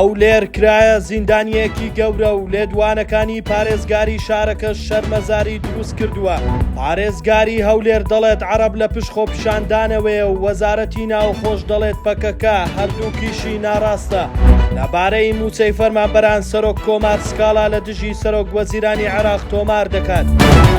هەولێر کرایە زیندانیەکی گەورە و لێدوانەکانی پارێزگاری شارەکە شەرمەزاری دروست کردووە پارێزگاری هەولێر دەڵێت عرب لە پشت خۆپیشاندانەوەێ و وەزارەتی ناوخۆش دەڵێت پەکەکە هەردووکیشی ناڕاستە لەبارەی موچەی فەرمانبەران سەرۆک کۆمار سکاڵا لە دژی سەرۆک وەزیرانی عراق تۆمار دەکات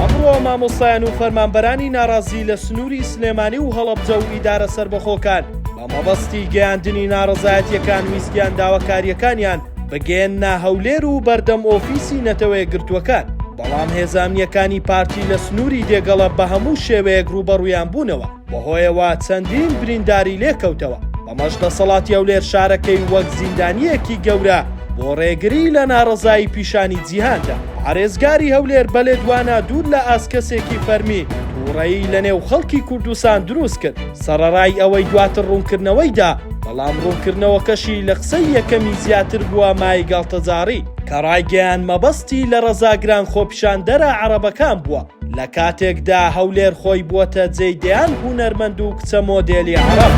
ئەمڕۆ مامۆستایان و فەرمانبەرانی ناڕازی لە سنووری سلێمانی و هەڵەبجە و ئیدارە سربەخۆکان بە مەبەستی گەیاندنی ناڕەزایەتیەکان ویستیان داواکاریەکانیان بگەیەننە هەولێر و بەردەم ئۆفیسی نەتەوەیەکگرتووەکان بەڵام هێزامنیەکانی پارتی لە سنووری دێگەڵە بە هەموو شێوەیەک ڕووبەڕوویان بوونەوە بەهۆیەوە چەندین برینداری لێکەوتەوە بەمەش دەسەڵاتی هەولێر شارەکەی وەک زیندانیەکی گەورە بۆ ڕێگری لە ناڕەزایی پیشانی جیهاندا پارێزگاری هەولێر بەلێدوانە دوور لە ئاست کەسێکی فەرمی تووڕەیی لە نێو خەڵکی کوردستان دروست کرد سەڕەرای ئەوەی دواتر ڕوونکردنەوەی دا، بەڵام ڕوونکردنەوەکەشی لە قسەی یەکەمی زیاتر بووە مای گاڵتەجاڕی، کە ڕایگەیاند مەبەستی لە ڕەزاگران خۆپیشاندەرە عەڕەبەکان بووە، لە کاتێکدا هەولێر خۆی بووەتە جێی دەیان هونەرمەند و کچە مۆدێلی عەڕەب.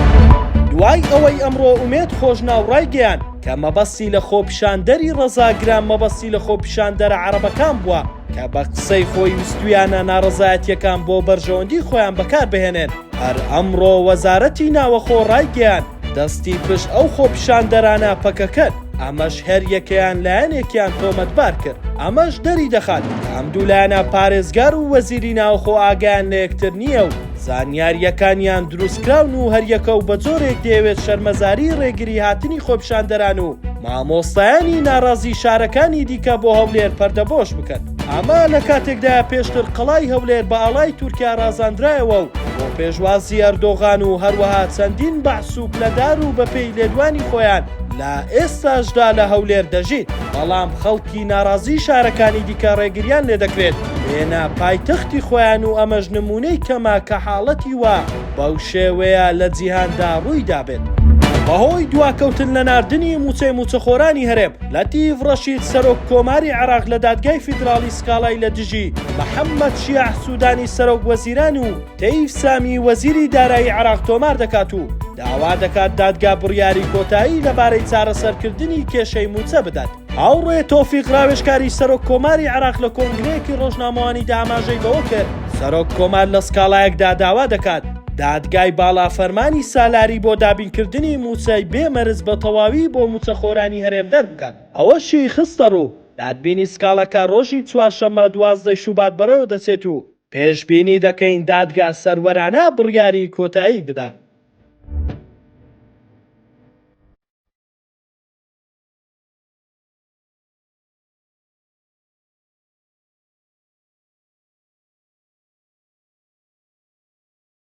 دوای ئەوەی ئەمڕۆ ئومێد خۆشناو ڕایگەیاند کە مەبەستی لە خۆپیشاندەری ڕەزاگران مەبەستی لە خۆپیشاندەرە عەڕەبەکان بووە کە بە قسەی خۆی ویستوویانە ناڕەزایەتییەکان بۆ بەرژەوەندی خۆیان بەکاربهێنێن، هەر ئەمڕۆ وەزارەتی ناوەخۆ ڕایگەیاند، دەستی پشت ئەو خۆپیشاندەرانە پەکەکەن، ئەمەش هەر یەکەیان لایەنێکیان تۆمەتبار کرد، ئەمەش دەریدەخات کە ئەم دوو لایەنە پارێزگار و وەزیری ناوخۆ ئاگایان لە یەکتر نییە و زانیارییەکانیان دروستکراون و هەریەکە و بەجۆرێک دەیەوێت شەرمەزاری ڕێگری هاتنی خۆپیشاندەران و مامۆستایانی ناڕازی شارەکانی دیکە بۆ هەولێر پەردەبۆش بکەن. ئەمە لە کاتێکدایە پێشتر قەڵای هەولێر بە ئاڵای تورکیا ڕازاندرایەوە و بۆ پێشوازی ئەردۆغان و هەروەها چەندین بەعس و پلەدار و بەپێی لێدوانی خۆیان لە ئێستاشدا لە هەولێر دەژین بەڵام خەڵکی ناڕازی شارەکانی دیکە ڕێگریان لێدەکرێت بێنە پایتەختی خۆیان و ئەمەش نمونەی کەمە کە حاڵەتی وا بەو شێوەیە لە جیهاندا ڕوویدابێت. بەهۆی دواکەوتن لە ناردنی مووچەی مووچەخۆرانی هەرێم، لەتیف ڕەشید سەرۆک کۆماری عێراق لە دادگای فیدراڵی سکاڵای لە دژی محەممەد شیاع سوودانی سەرۆک وەزیران و تەیف سامی وەزیری دارایی عێراق تۆمار دەکات و داوا دەکات دادگا بڕیاری کۆتایی لەبارەی چارەسەرکردنی کێشەی مووچە بدات. هاوڕێ تۆفیق ڕاوێژکاری سەرۆک کۆماری عێراق لە کۆنگرەیەکی ڕۆژنامەوانیدا ئاماژەی بەوە کرد، سەرۆک کۆمار لە سکاڵایەکدا داوا دەکات دادگای باڵا فەرمانی سالاری بۆ دابینکردنی مووچەی بێ مەرج بە تەواوی بۆ مووچەخۆرانی هەرێم دەربکات. ئەوەشی خستەڕوو، دادبینی سکاڵەکە رۆژی چوارشەممە دوازدە ی شوبات بەڕێوەدەچێت و پێشبینی دەکەین دادگا سەروەرانە بڕیاری کۆتایی بدات.